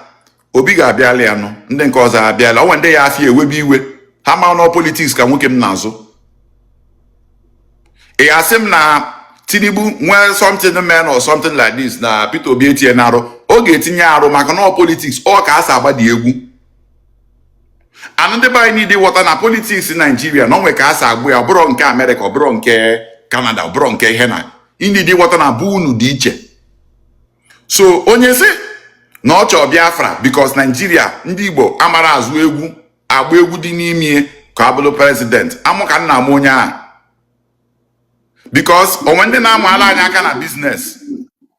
Obi ga-abịala ya nụ ndị nke ọzọ abịala o nwee ndị ya-afụ ya ewebe iwe ha ma na ọ politics ka nwoke m na-azụ ị ga-asị m na tinubu nwee something men or something like this na peter obi etinye na arụ ọ ga-etinye arụ maka na politics ọ ka e si agba dị egwu anụ ndị be anyị adị aghọta na politics naijiria na o nwe ka e si agba ya ọ bụrọ nke amerịka ọ bụrọ nke kanada ọ bụrọ nke ihe na unu adị aghọta na be unu dị iche so onye sị na ọ chọọ biafra because naijiria ndị igbo amarọ azụ egwu agba egwu dị n'ime ya ka a bụrụ president amụ ka m na-amụ onye ahụ because o nwe ndị na-amụala anyị aka na business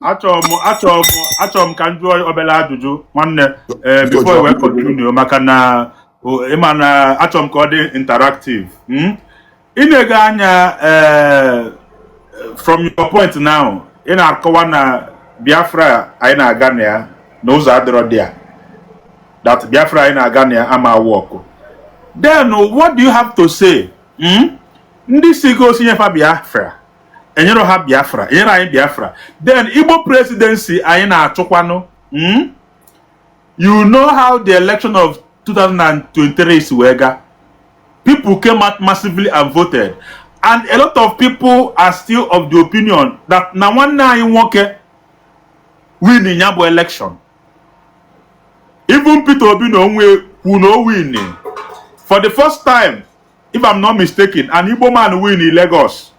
achọrọ m achọrọ m achọrọ m ka m jụọ obere ajụjụ nwanne ee before we continue maka na o- ị ma na achọrọ m ka ọ dị interactive i nego anya eh, from your point now ị na-akọwa na biafra anyị na-aga na ya na ụzọ adịrọ dị ya that biafra anyị na-aga na ya ama awọkụ then what do you have to say hmm? ndị sịgo sị nye fa biafra e nyerọ ha biafra e nyerọ anyị biafra then igbo presidency anyị na-achụkwanụ hmm? you know how the election of 2023 si wee ga people came out massively and voted and a lot of people are still of the opinion that na nwanne anyị nwoke win ya bụ election even Peter Obi na onwe kwu na o win for the first time if I'm not mistaken an Igbo man win in Lagos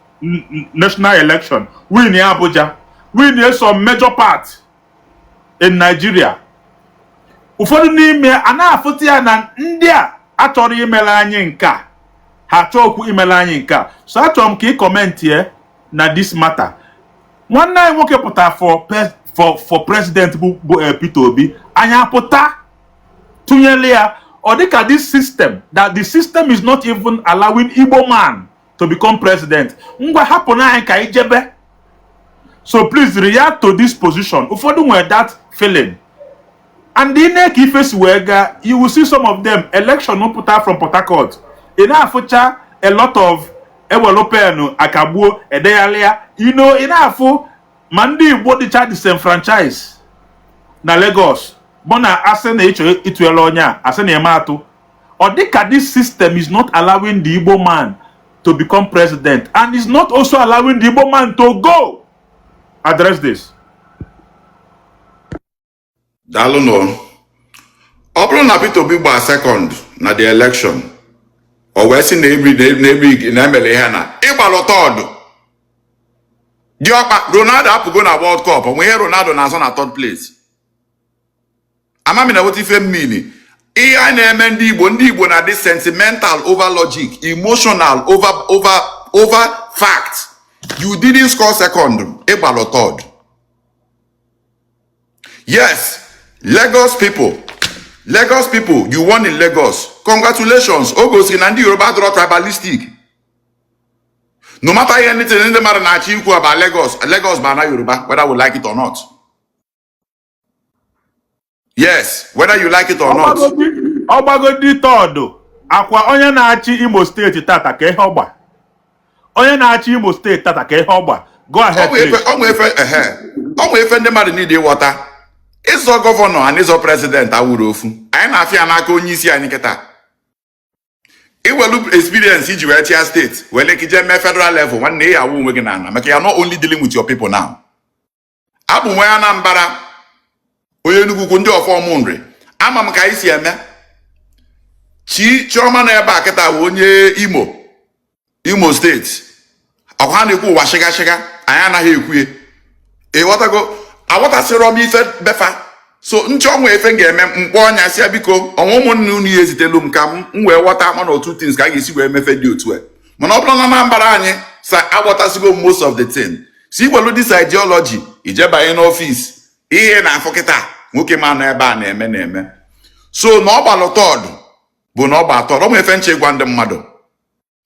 national election win Abuja win some major part in Nigeria ụfọdụ n'ime ha na-afụta ya na ndị a achọrọ imele anyị nke a ha achọkwu imele anyị nke a so achọrọ m ka ị commentịa na this matter nwanne anyị nwoke pụtara for president bụ eh, Peter Obi anyị apụta tụnyere ya ọ dịka this system that the system is not even allowing Igbo man to become president ngwa hapụnụ anyị ka anyị jebe so please react to this position ụfọdụ nwere that feeling and i nee ka ife si wee gaa you will see some of them election pụta from Port Harcourt ị na-afụcha a lot of e welu pen kagbuo e degharịa you know ị na-afụ ma ndị Igbo dịcha disenfranchise na Lagos bụ na a sị na ị chọọ ịtụnyelu onye a a sị na ị ma atụ ọ dị ka this system is not allowing the Igbo man to become president and is not also allowing the Igbo man to go address this. daalụ nụ ọ bụrụ na Peter Obi gbaa second na the election o wee sị na ebri na ebri na e mere ihe na ị gbalụ third diọkpa Ronaldo apụgo na World Cup o nwe ihe Ronaldo na-azọ na third place ama m ị na-aghọta ife mmiri ihe na-eme ndị igbo ndị igbo na-adị sentimental over logic emotional over over over fact you didn't score second ị gbalụ third yes lagos people lagos people you won in lagos congratulations o gosiri na ndị yoruba adịrọ tribalistic no matter anything ndị mmadụ na-achọ ikwu about lagos lagos bụ ana yoruba whether we like it or not yes whether you like it or not ọ gbagodi third ọkwa onye na-achị imo steeti tata kee ihe ọ gba onye na-achị imo steeti tata kee ihe ọ gba go ahead o nwe ife ndị mmadụ need ịghọta ịzọ gọvanọ and ịzọ prezidenti awụrọ ofu anyị na-afụ ya n'aka onye isi anyị kịta i welu experience i ji wee chịa steeti welu ka i je mee federal level nwanne ị ya-awụ onwe gị n'ala maka you're not only dealing with your people now abụ m nwa Anambra onye Enugu-Ukwu ndị ọfọ Ụmụnri ama m ka anyị si eme chi Chioma nọ ebe a kịta bụ onye imo imo steeti ọkwa ha na-ekwu ụwa shịga shịga anyị anaghị ekwu ya ịghọtago aghọtasịrọ m ife be fa so m chee o nwe ife m ga-eme m kpọọ ya sị ya biko o nwe ụmụnne unu ya ezitelu m ka m wee ghọta mana otu things ka a ga-esi wee mee ife dị otu a mana ọ bụrụ na Anambra anyị sa aghọtasigo most of the thing sị i welu this ideology i jebanye n'ọfis ihe a na-afụ kịta nwoke m a nọ ebe a na-eme na-eme so na ọ gbalụ third bụ na ọ gbalụ third ọ bụ ife m chee gwa ndị mmadụ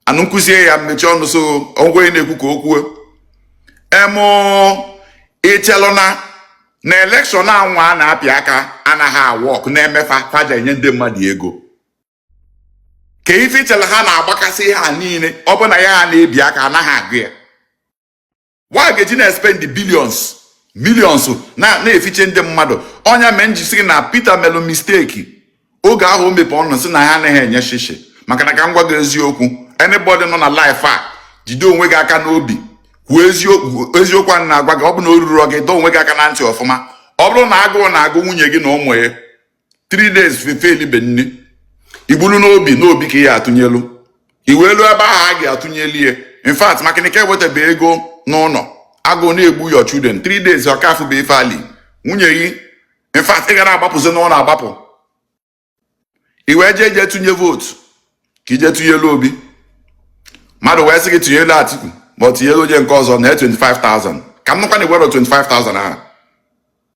anụ m kụzie ya m mechie ọnụ so ọgwụ onye na-ekwu ka o kwuo emụ ị chelụ na na elekshọn anwa a na-apịa aka anaghị a-work na-eme fa fa ja-enye ndị mmadụ ego kee ife ị chelụ ha na-agbakasị ihe a niile ọ bụ na ihe a ha na-ebi aka anaghị agụ ya wa ga-eji na-espend billions millions na-efiche ndị mmadụ ọ nya mee m ji sị na Peter melu misteki oge ahụ o mepe ọnụ sị na ya anaghị enye shishi maka na ka m gwa gị eziokwu anybody nọ na life ya jide onwe gị aka n'obi kwuo eziokwu eziokwu a na-agwa gị ọ bụ na o ruru gị dọọ onwe gị aka na ntị ọfụma ọ bụrụ na agụụ na-agụ nwunye gị na ụmụ ya three days fa elibe nni i bulu n'obi na Obi ka ị ya-atụnyelu i wee lu ebe ahụ a ga-atụnyelu ya in fact maka na ị ka ewetabe ego n'ụlọ agụụ na-egbu your children three days ọ ka afụbe ife o li nwunye gị in fact ị ga na-agbapụzi n'ụlọ agbapụ i wee jee jee tụnye vootu ka i je tụnyelu Obi mmadụ wee sị gị tụnyelu Atiku ma ọ tụnyelu onye nke ọzọ naa 25,000 ka m nụkwa na i werọ 25,000 ahụ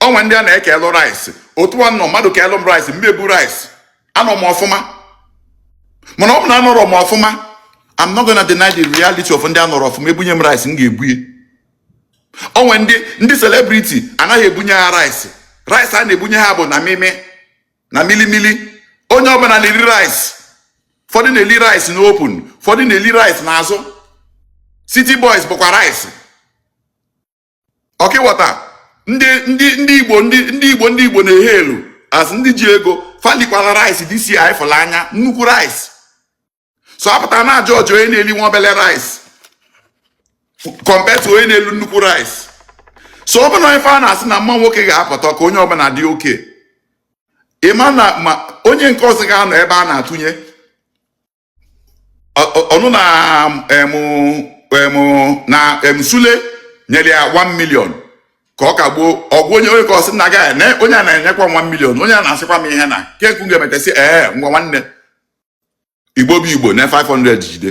o nwe ndị a na-ekelu rice otu a m nọ mmadụ kelu m rice m ma-ebu rice anọ m ọfụma mana ọ bụ na anọrọ m ọfụma I'm not gonna deny the reality of ndị anọrọ ọfụma ebunye m rice m ga-ebu ya o nwe ndị ndị celebrity anaghị ebunye ha rice rice a na-ebunye ha bụ na mimi na milimili onye ọbụla na-eri rice ụfọdụ na-eli rice na open ụfọdụ na-eli rice n'azụ city boys bụkwa rice ọkịwọta ndị ndị ndị igbo ndị ndị igbo ndị igbo na-ehe elu as ndị ji ego fa likwara rice dci fụla anya nnukwu rice so a pụta a na-ajudge onye na-eli nwa obele rice compared to onye na-eli nnukwu rice so ọ bụ na ife a na-asị na mma nwoke ga-apụta ka onye ọbụla dị oke ịma na ma onye nke ọzọ ga-anọ ebe a na-atụnye ọnụ na na em sule nyere ya 1 million ka ọ kagbuo ọgwụ onye onye ka ọ sị na agaghị na onye a na-enyekwa 1 million onye a na-asịkwa m ihe na keku ga-emetesị ee ngwa nwanne igbo bụ igbo na 500 jide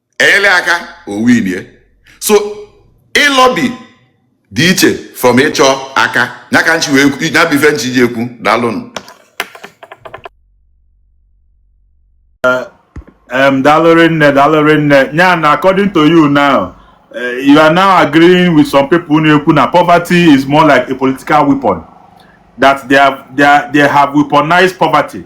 enyere aka ọ winie so ịlobby dị iche from ịchọ aka ya ka nchi wee ya bụ ife nchi ji ekwu daalụnụ um, daalụ rinne, daalụ rinne. Nyan, according to you now, uh, you are now agreeing with some people na-ekwu na poverty is more like a political weapon. That they have they, are, they have weaponized poverty.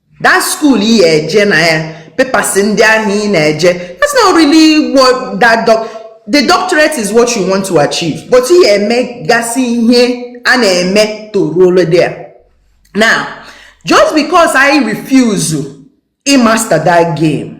that school ị ya eje na ya papers ndị ahụ ị na-eje that's not really what that doc the doctorate is what you want to achieve but ị ya eme gasị ihe a na-eme to ruole there now just because I refuse ịmaster that game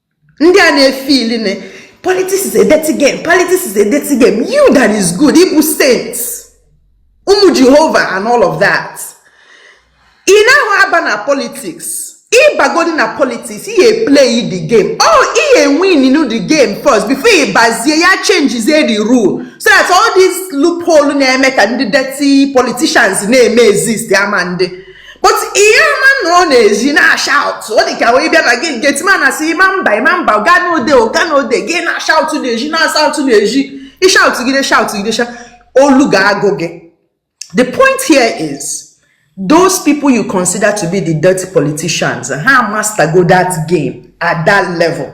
ndị a na-efeel na politics is a dirty game politics is a dirty game you that is good ị bụ saint ụmụ jehova and all of that ị nahụ aba na politics ị bagodi na politics ị ga-eplay the game ọ ị ga-ewin the game first before ị bazie ya changezie the rule so that all these loophole na-eme ka ndị dirty politicians na-eme exist ama ndị but ị ya ama nọ n'ezi na-ashout ọ dị ka onye bịa na gate gateman asị ị ma mba ị ma mba oga nọọ there oga nọọ there gị na-ashout n'ezi na-ashout n'ezi ị shout gide shout gide olu ga-agwụ gị the point here is those people you consider to be the dirty politicians ha master go that game at that level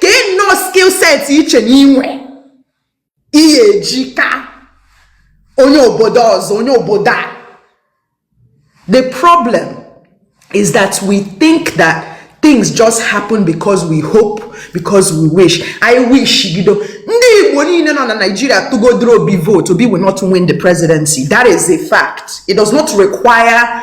kee nnọọ skill set i che na i nwe ihe i ji ka onye obodo ọzọ onye obodo a the problem is that we think that things just happen because we hope because we wish ị wish gido ndị igbo niile nọ na nigeria tụgodoro obi vote obi will not win the presidency that is a fact it does not require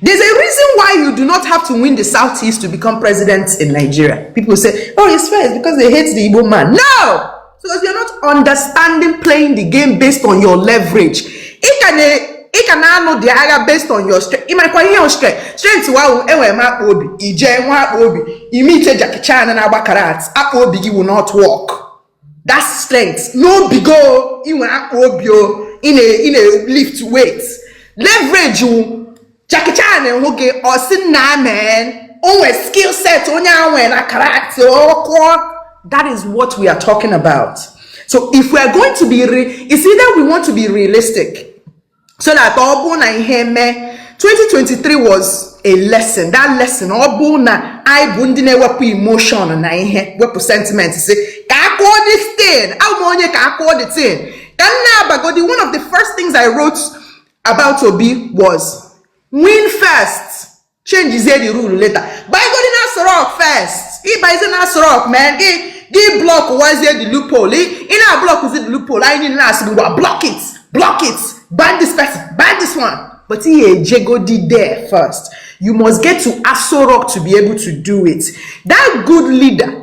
There's a reason why you do not have to win the Southeast to become president in Nigeria. People say, oh, it's fair, it's because they hate the Igbo man. No! Because you're not understanding playing the game based on your leverage. Ị ka na-anụ the agha based on your strength ị marakwa your own strength strength wa ahụ enwere m akpa obi i je we akpa obi imitate Jackie Chan na-agba karate akpa obi gị will not work that strength n'obi gị o ị nwere akpa obi o ị na-lift weight leverage wụ Jackie Chan hụ gị ọ sị nna men o nwere skill set onye a nwere na karate ọ kụọ that is what we are talking about so if we are going to be re it's either we want to be realistic so that ọ bụ na ihe mee 2023 was a lesson that lesson ọ bụ na anyị bụ ndị na-ewepụ emotion na ihe wepụ sentiment sị ka a kọọ this thing abụ m onye ka a kọọ the thing ka m na-abagodi one of the first things I wrote about Obi was win first chenjizie the rule later baigodi na Aso Rock first ị baizi na Aso Rock men gị blọkwazie the loophole ị na-ablọkụzi the loophole anyị niile na-asị gị ngwa block it block it ban this person ban this one but ị ga-ejegodi there first you must get to Aso Rock to be able to do it that good leader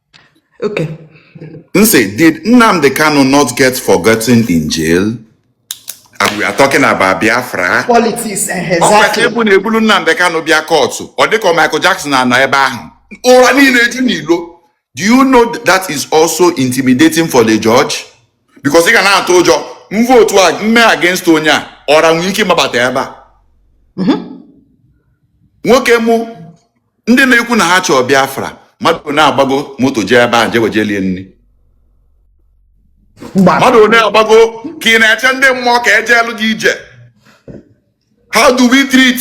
Okay. Nse, did Nnamdi Kanu not get forgotten in jail? And we are talking about Biafra. Politics, eh, Ọ kwesịrị exactly. ịbụ na e buru Nnamdi Kanu bịa court. Ọ dịka Michael Jackson anọ ebe ahụ. Ọra niile eju n'ilo. Do you know that is also intimidating for the judge? Because ị ga na-atụ ụjọ m votuo m mee against onye a ọra nwere ike ịmabata ebe a. Nwoke mụ ndị na-ekwu na ha chọọ Biafra mmadụ na-agbago moto jee ebe ahụ je wejelie nri mmadụ na-agbago ka ị na-eche ndị mmụọ ka ejeelu gị ije how do we treat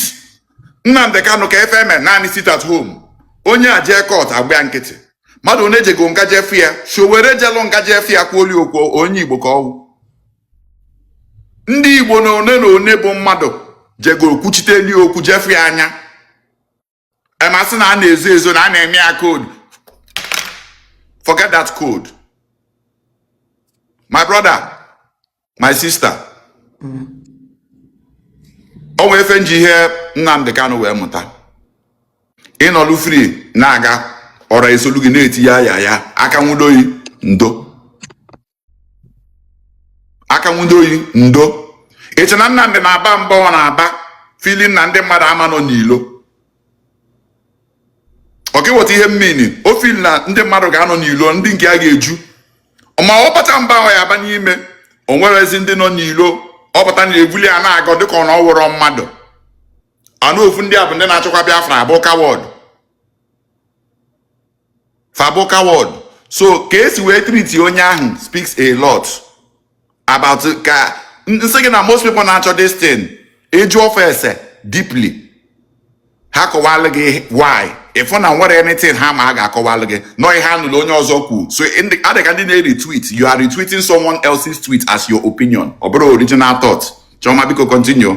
Nnamdi Kanu ka efe eme naanị sit at home onye a jee court a gba ya nkịtị mmadụ one jego nga jefu ya Sowore jelụ nga jefu ya kwuoli okwu onye Igbo ka ọwụ ndị Igbo na one na one bụ mmadụ jego kwuchiteli okwu jefu ya anya emasị na a na-ezo ezo na a na-eme ya code forget that code my brother my sister o nwee efe m ji ihe Nnamdi Kanu wee mụta ị nọlụ free na-aga ọra esolu gị na-eti ya ya ya aka nwudo yị ndo aka nwudo yị ndo ị che na Nnamdi na-aba mba ọ na-aba feeling na ndị mmadụ ama nọ n'ilo okay wọta ihe m mean o feel na ndị mmadụ ga-anọ n'ilo ndị nke a ga-eju ma ọ bachaa mba ahụ ya aba n'ime o nwere ezi ndị nọ n'ilo ọ pụta na-ebuli ya na-agọ dịka ọ na ọ wụrọ mmadụ anụ ofu ndị a bụ ndị na-achọkwa Biafra abụ coward fa bụ coward so ka esi wee treat onye ahụ speaks a lot about ka m sị gị na most people na-achọ this thing ị jụọ fa ese deeply ha kọwalụ gị why ị fụ na enwerọ anything ha ma a ga-akọwalụ gị na ọ ihe ha nụlụ onye ọzọ kwu so ndị- adịka ndị na-retweet you are retweeting someone else's tweet as your opinion ọ bụrọ original thought Chioma biko continue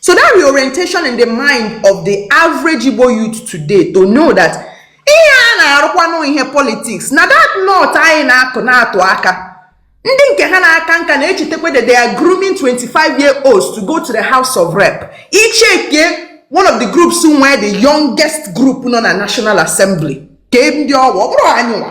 So that reorientation in the mind of the average Igbo youth today to know that ihe a na-arụkwanụ ihe politics now that North anyị na-atụ na-atụ aka ndị nke ha na-aka nka na-echetakwa that they are grooming 25 year olds to go to the house of rep ị checkie one of the groups nwee the youngest group nọ na national assembly kee ndị ọ wụ ọ bụrọ anyịwa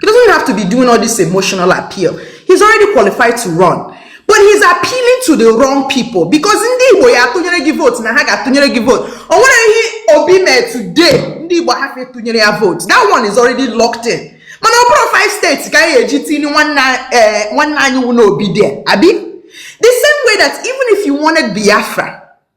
He doesn't have to be doing all this emotional appeal. He's already qualified to run. But he's appealing to the wrong people because ndị Igbo ya-atụnyere gị vote na ha ga-atụnyere gị vote. O nwerọ ihe Obi mee today ndị Igbo hafụ ịtụnyere ya vote. That one is already locked in. Mana ọ bụrọ five states ka a ya-eji tinye nwanne eh, anyị wụnụ Obi there. Abi? The same way that even if you wanted Biafra,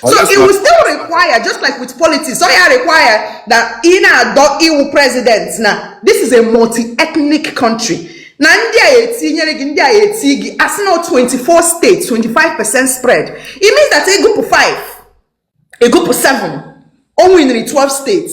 So it will still require, just like with politics, ọ ya-require that ị na-adọ ịwụ president now. This is a multi-ethnic country. na ndị ya-etinyere gị ndị ya-eti gị a sị na ọ 24 states 25 percent spread it means that ị gụpụ 5 ị gụpụ 7 o winri 12 states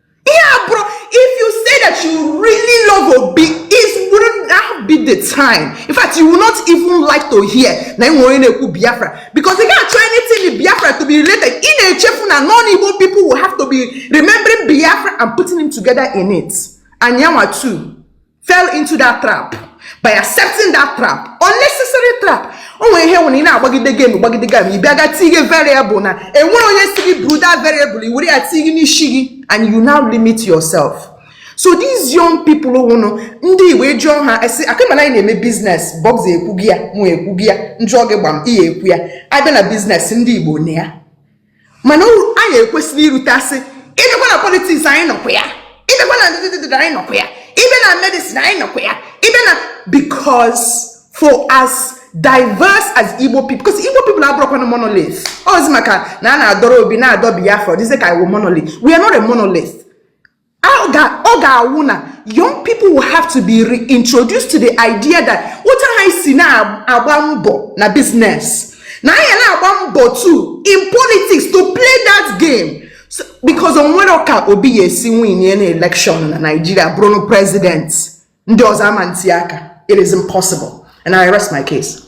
ihe a bụrụ if you say that you really love obi it wouldn't now be the time in fact you will not even like to hear na e nwe onye na-ekwu biafra because ị ga-achọ anything in biafra to be related ị na-echefu na non-igbo people will have to be remembering biafra and putting him together in it and yanwa too fell into that trap by accepting that trap unnecessary trap o nwere ihe nwere ị na-agbagide game gbagide game ị bịaga tinye variable na enwerọ onye sị gị buru that variable i were ya tinye n'isi gị and you now limit yourself so these young people wụnụ ndị igbo jụọ ha a sị okay mana anyị na-eme biznes bọbs ekwugo ya mụ ekwugo ya njụọ gị gbam ihe ekwu ya a bịa na biznes ndị igbo nọ ya mana anyị ekwesịrị iruta sị ị bịakwa na politiks anyị nọkwa ya ị bịakwa na ndịdịdịdị anyị nọkwa ya ị bịa na medicine anyị nọkwa ya ị bịa na because for as diverse as igbo people because igbo people abụrọkwanụ monolith ọ wụzi maka na a na-adọrọ obi na-adọ biafra ọ dịzị ka anyị wụ monolith we are not a monolith ọ ga-awụ na young people will have to be reintroduced to the idea that otu ha si na-agba mbọ na business na ha ya na-agba mbọ too in politics to play that game because o nwerọ ka obi ya-esi winie na election na Nigeria bụrụ president ndị ọzọ ama nti aka it is impossible and I rest my case.